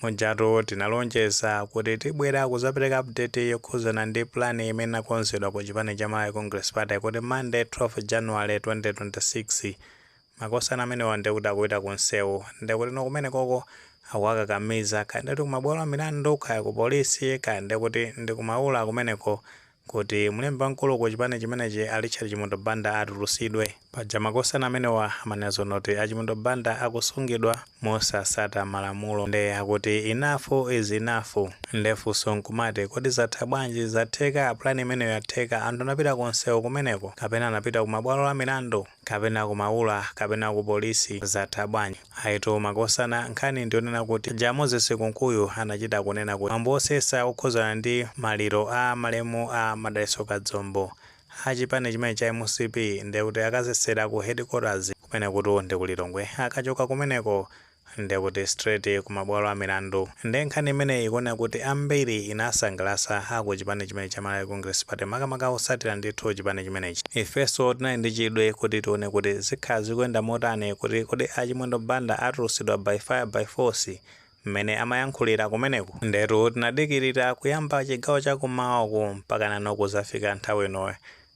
Mujatu tinalonjeza kuti tibwera kuzapereka update yokhuzana ndi plan imene inakonzedwa ku chipani cha Malawi Congress Party kuti Monday 12 January 2026 makosana amenewa ndikuti akupita ku nsewu ndikutinso kumenekoko akawakakamiza kaya ndikuti kumabwalo a milandu kaya ku polisi kaya ndikuti ndi kumaula kumeneko kuti mlembi wamkulu ku chipani chimenechi a Richard Chimwendo Banda atulusidwe. Paja makosana amenewa amanena zonena kuti a Chimwendo Banda akusungidwa mosatsata malamulo nde akuti enough is enough. Nde funso nkumati kodi zatha bwanji? Zatheka? Plan imeneyi yatheka? Anthu anapita ku nsewu kumeneko? Kapena anapita ku mabwalo a milandu? kapena ku maula kapena ku police zatha bwanji? Ayitu makosana nkhani ndi yonena kuti paja Moses Kunkuyu anachita kunena kuti mwambo wosesa wokhuzana ndi maliro a malemu a Madalitso Kazombo a chipani chimene cha mcp ndekuti akasesera ku headquarters kumenekutu ndi ku Lilongwe akachoka kumeneko nde kuti straight ku mabwalo amilandu nde nkhani imeneyi ikuoneka kuti ambiri inasangalasa a ku chipani chimenechi cha Malawi Congress Party makamaka otsatira ndithu chipani chimenechi. Ifenso tinali ndi chidwi kuti tione kuti zikhala zikuyenda motani kuti kodi a Chimwendo Banda atulusidwa by fire by force mmene amayankhulira kumeneku ndetu tinadikirira kuyamba chigawo cha kummawa uku mpaka nano kuzafika nthawi ino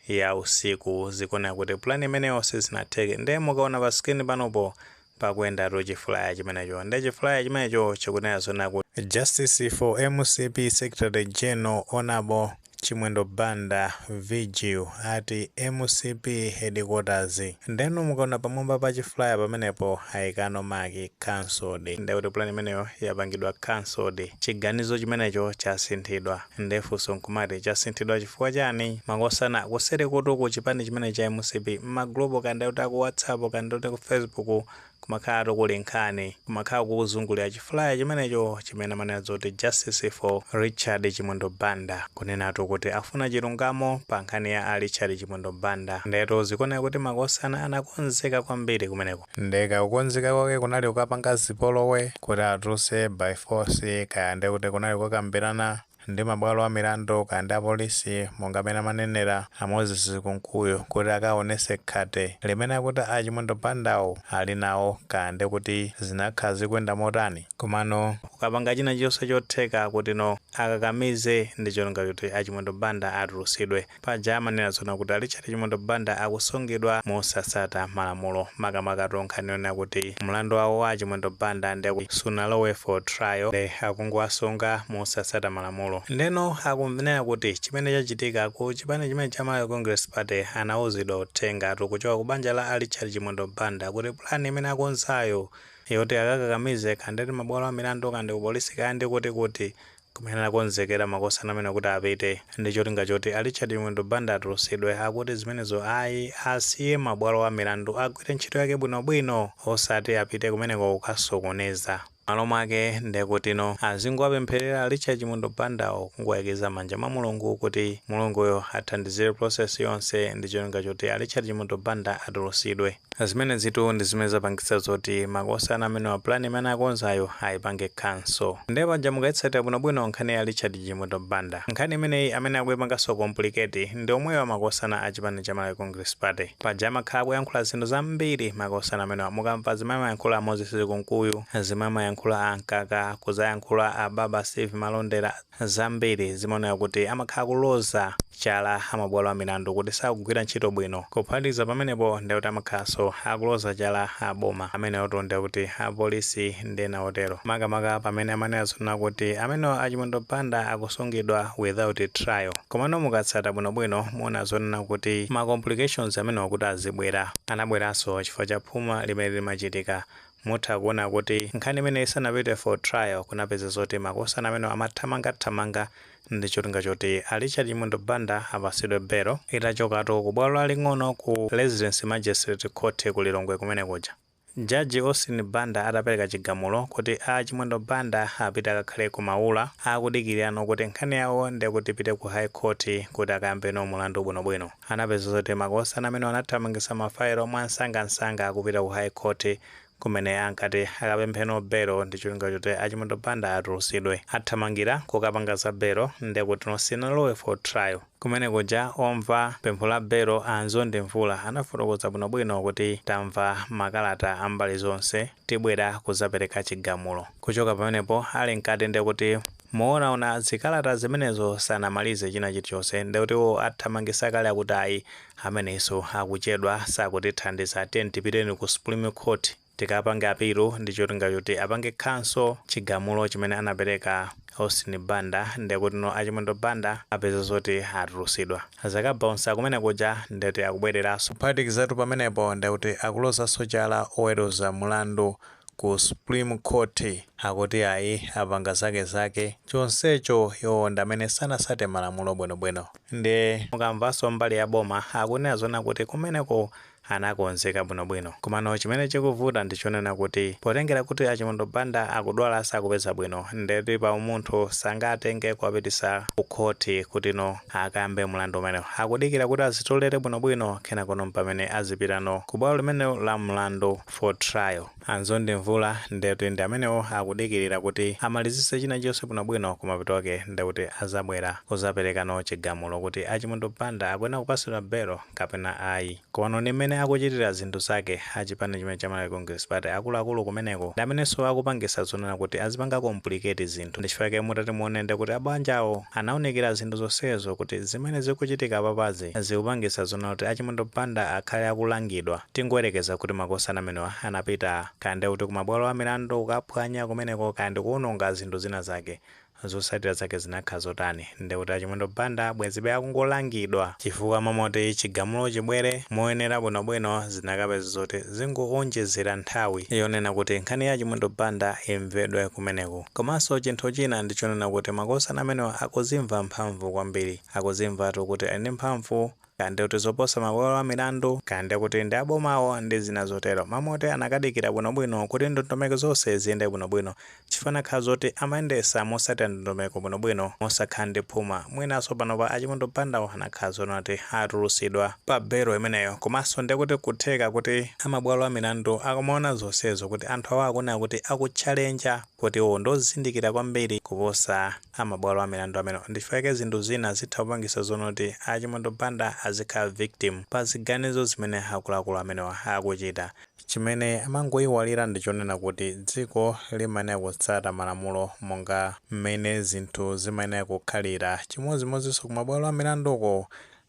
ya usiku zikuoneka kuti plan imeneyonso sinatheke nde mukaona pa screen panopo pakuyendatu chifulaya chimenecho nde chifulaya chimenecho chikunena zonena kuti justice for mcp secretary general honourable chimwendo banda vigil at mcp headquarters ndeno mukaona pamwamba pa chifulaya pamenepo aikapo maki cancelled ndekuti plan imeneyo yapangidwa cancelled chiganizo chimenecho chasinthidwa. Nde funso nkumati chasinthidwa chifukwa chani? Makosana kuserikutu ku chipani chimene cha mcp mma group kaya ndikuti aku whatsapp kaya ndikuti ku facebook kumakhalatu kuli nkhani. Kumakhala kuzungulira chifulaya chimenecho chimene amanena zoti Justice for Richard Chimwendo Banda. Kunenatu kuti afuna chilungamo pa nkhani ya a Richard Chimwendo Banda. Ndetu zikuoneka kuti makosana anakonzeka kwambiri kumeneko. Nde ka kukonzeka kwake kunali kukapanga zipolowe kuti atuluse by force kaya nde kuti kunali kukakambirana ndi mabwalo a milandu kaya ndi a police monga mene amanenera a Moses Kunkuyu kuti akawonese khate limene akuti a Chimwendo Bandawo ali nawo kaya nde kuti zinakhala zikuyenda motani komano kukapanga china chilionse chotheka kuti no akakamize ndi cholinga choti a Chimwendo Banda atulusidwe. Paja amanena zona kuti a Richard Chimwendo Banda akusungidwa mosasata malamulo makamakatu nkhani yonena kuti mlandu wawo wa a Chimwendo Banda nde kuti sunalowe for trial nde akungowasunga mosasata malamulo. Ndeno akumanena kuti chimene chachitika ku chipani chimene cha Malawi Congress Party anauzidwa uthengatu kuchoka ku banja la a Richard Chimwendo Banda kuti plan imene akonzayo yoti akakakamize kandi mabwalo a milandu kandi ku polisi kaya ndi kutikuti Kumene anakonzekera makosana amenewa kuti apite ndi cholinga choti a Richard Chimwendo Banda atulutsidwe. Akuti zimenezo ayi, asiye mabwalo a milandu agwire ntchito yake bwinobwino osati apite kumeneko kukasokoneza. M'malo mwake ndekutino azingowapempherera a Richard Chimwendo Bandawo, kungowayikiza m'manja mwa Mulungu kuti Mulunguyo athandizire process yonse ndi cholinga choti a Richard Chimwendo Banda atulutsidwe. Zimenezitu ndi zimene zapangitsa zoti makosana amenewa plan imene anakonzayo aipange cancel. Nde paja mukaitsatira bwinobwino nkhani ya Richard Chimwendo Banda, nkhani imeneyi amene akuipanganso complicate ndi omwewa makosana a chipani cha Malawi Congress Party. Paja amakhala akuyankhula zinthu zambiri makosana amenewa. Mukamva zimene amayankhula a Moses Kunkuyu, zimene amayankhula a Mkaka, kudzayankhula a Baba Steve Malondera, zambiri zimaoneka kuti amakhala akuloza chala a mabwalo a milandu kuti sakugwira ntchito bwino. Kuphatikiza pamenepo ndiye kuti amakhalanso akuloza chala a boma, amenewotu ndiye kuti apolisi ndi ena otero, makamaka pamene amanena zonena kuti amenewa a Chimwendo Banda akusungidwa without trial. Komano mukatsata bwinobwino muona zonena kuti ma complications amenewa kuti azibwera, anabweranso chifukwa cha phuma limene limachitika Mutha kuona kuti nkhani imeneyi isanapite for trial kunapeza zoti makosana amenewa amathamanga thamanga ndi cholinga choti a Richard Chimwendo Banda apasidwe belo itachokatu ku bwalo laling'ono ku Residence Magistrate Court ku Lilongwe kumene kuja Judge Austin Banda atapeleka chigamulo kuti a Chimwendo Banda apite akakhale ku Maula akudikirano kuti nkhani yawo ndekuti ipite ku High Court kuti akayambeno mulandu bwino bwino. anapeza zoti makosana amenewa anathamangitsa mafaelo mwansangansanga akupita ku High Court kumene ankati akapempheno belo ndi cholinga choti a Chimwendo Banda atulusidwe. Athamangira kukapanga za belo nde kutino sinalowe for trial. Kumene kuja omva pempho la belo a Nzondi Mvula anafotokoza bwinobwino kuti tamva makalata a mbali zonse tibwera kuzapereka chigamulo. Kuchoka pamenepo ali mkati ndekuti. kuonaona zikalata zimenezo sanamalize china chilichose ndekuti iwo athamangisa kale akuti ayi amenewaso akuchedwa sakutithandiza tiyeni tipiteni ku supreme court tikapange apilu ndicholinga choti apange cancel chigamulo chimene anapeleka Austin Banda ndekutino a Chimwendo Banda apeza zoti atulusidwa zakabaunsa kumene kuja ndekuti akubwelelaso kuphatikizatu pamenepo ndekuti akulozaso chala oweluza mulandu Ku supreme court akuti ayi apanga zake zake chonsecho iwowo ndamene sanasate malamulo bwino bwino nde mukamvanso mbali ya boma akunena zonena kuti kumeneko anakonzeka bwino bwino komano chimene chikuvuta ndichonena kuti potengera kuti a Chimwendo Banda akudwala sakupeza bwino nde kuti pa umunthu sangatenge kuwapitisa ku court kutino akambe mlandu umenewo akudikira kuti azitolere bwino bwino kenakono mpamene azipitano ku bwalo limeneli la mlandu for trial. A Mzonde Mvula nde kuti ndi amenewo akudikirira kuti amalizise china chonse bwino bwino kumapeto ake nde kuti azabwera kuzaperekano chigamulo kuti a Chimwendo Banda akuyenera kupasidwa belo kapena ayi. Komano ndi mmene akuchitira zinthu zake a chipani chimene cha Malawi Congress Party akulu akulu kumeneko ndi amenenso akupangisa zonena kuti azipanga complicate zinthu ndi chifukwa chake mutati muone nde kuti abanjawo anaunikira zinthu zonsezo kuti zimene zikuchitika apapazi zikupangisa zonena kuti a Chimwendo Banda akhale akulangidwa Tingoyerekeza kuti makosana amenewa anapita, kaya ndiye kuti kumabwalo amilandu kukaphwanya kumeneko kaya ndi kuononga zinthu zina zake, zotsatira zake zinakhala zotani? Ndiye kuti a Chimwendo Banda bwezibe akungolangidwa chifukwa mmalo moti chigamulo chibwere moyenera bwinobwino zinakapezeka zoti zingoonjezera nthawi yonena kuti nkhani ya a Chimwendo Banda imvedwe kumeneko. Komanso chinthu china ndi chonena kuti makosana amenewa akuzimva mphamvu kwambiri. Akuzimvatu kuti ali ndi mphamvu. kaya ndi kuti zoposa mabwalo a milandu, kaya ndi kuti ndi abomawo ndi zina zotero. Mmalo moti anakadikira bwinobwino kuti ndondomeko zonse ziyende bwinobwino chifukwa anakhala zoti amayendesa mosatira ndondomeko bwinobwino mosakhala ndi phuma mwinanso panopa a Chimwendo Bandawo anakhala zonena kuti atulusidwa pa belo imeneyo komanso ndi kuti kutheka kuti a mabwalo a milandu akumaona zonsezo kuti anthu awa akunena kuti akutchalenja kuti iwo ndi ozindikira kwambiri kuposa a mabwalo a milandu amenewa ndichifukwa chake zinthu zina zitha kupangisa zonena kuti a Chimwendo Banda azikhala victim pa ziganizo zimene akuluakulu amenewa akuchita. Chimene amangoiwala ndi chonena kuti dziko limayenera kutsata malamulo monga mmene zinthu zimayenera kukhalira chimodzimodzinso ku mabwalo a milandu uko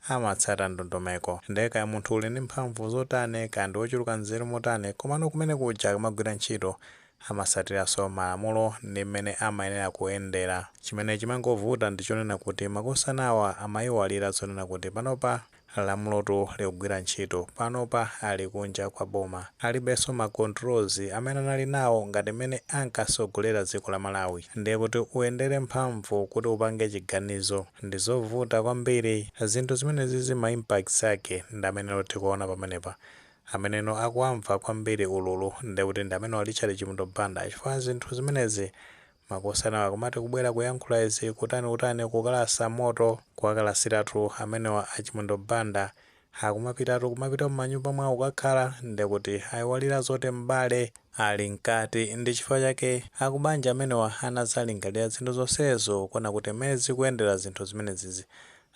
amatsata ndondomeko nde kaya munthu uli ndi mphamvu zotani kaya ndi ochuluka nzeru motani komano kumene kuja kumagwira ntchito amasatiranso malamulo ndi mmene amayenera kuyendera. Chimene chimangovuta ndi chonena kuti makosanawa amaiwalira zonena kuti panopa lamulotu likugwira ntchito, panopa ali kunja kwa boma, alibenso ma controls amene anali nawo ngati mmene ankatsogolera dziko la Malawi. Ndiye kuti uyendere mphamvu kuti upange chiganizo ndi zovuta kwambiri. Zinthu zimenezizi ma impacts ake ndi amene tikuona pamenepa. Ameneno akuwamva kwambiri ululu ndekuti ndi amenewa Richard Chimwendo Banda chifukwa zinthu zimenezi makosana akumati kubwera kuyankhula izi kutani kutani kukalasa moto kuwakalasiratu amenewa a Chimwendo Banda akumapitatu kumapita mumanyumba mwawo kukakhala ndekuti aiwalira zoti m'bale ali mkati ndi chifukwa chake akubanja amenewa anazalingalira zinthu zonsezo kuona kuti mmene zikuyendera zinthu zimenezizi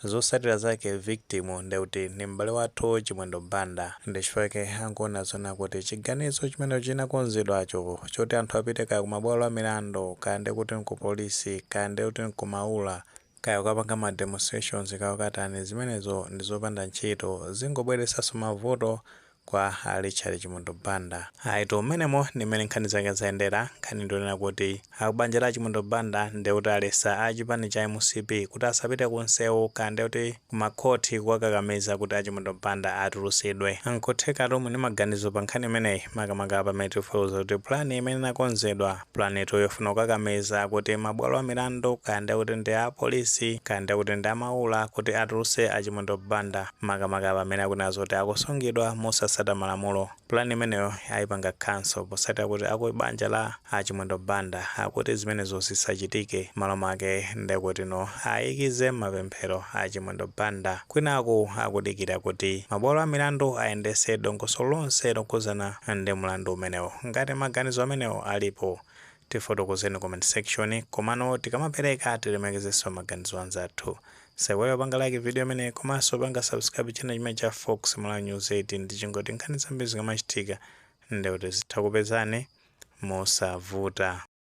Zosatira zake victim ndekuti ndi m'bale wathu Chimwendo Banda. Ndechifukwa chake angoona zoona kuti chiganizo chimene chinakonzedwacho choti anthu apite kaya kumabwalo amilandu kaya ndekuti nkupolisi kaya ndekuti nkumaula kaya kukapanga ma demonstrations kaya kukatani zimenezo ndizopanda ntchito zingobweresaso mavuto kwa a Richard Chimwendo Banda. Ayitu mmenemo ndi mmene nkhani zake zayendera. Nkhani ndi yonena kuti a kubanja la a Chimwendo Banda ndi kuti alesa a chipani cha mcp kuti asapite ku nsewu kaya ndi kuti ku makhoti kuwakakamiza kuti a Chimwendo Banda atulutsidwe. N'kuthekatu muli ni maganizo pa nkhani imeneyi makamaka pamene tikufotokoza kuti pulani imene inakonzedwa, pulanitu yofuna kukakamiza kuti mabwalo a milandu kaya ndi kuti ndi a apolisi kaya ndi kuti ndi a Maula kuti atulutse a Chimwendo Banda. makamaka pamene akunena zoti akusungidwa mosasata malamulo. Plan imeneyo aipanga cancel posatira kuti aku banja la a Chimwendo Banda akuti zimenezo zisachitike malo make ndekutino ayikize mmapemphero a Chimwendo Banda kwinaku akudikira kuti mabwalo a milandu ayendese dongosolo lonse lokhudzana ndi mlandu umenewo. Ngati maganizo amenewo alipo Tifotokozeni comment section komano tikamapereka tilemekezeso maganizo anzathu. Musaiwale kupanga like video imeneyi komaso kupanga subscribe channel chimene cha Fox Malawi News 18 ndichingoti nkhani zambiri zikamachitika ndekuti zitha kupezani mosavuta.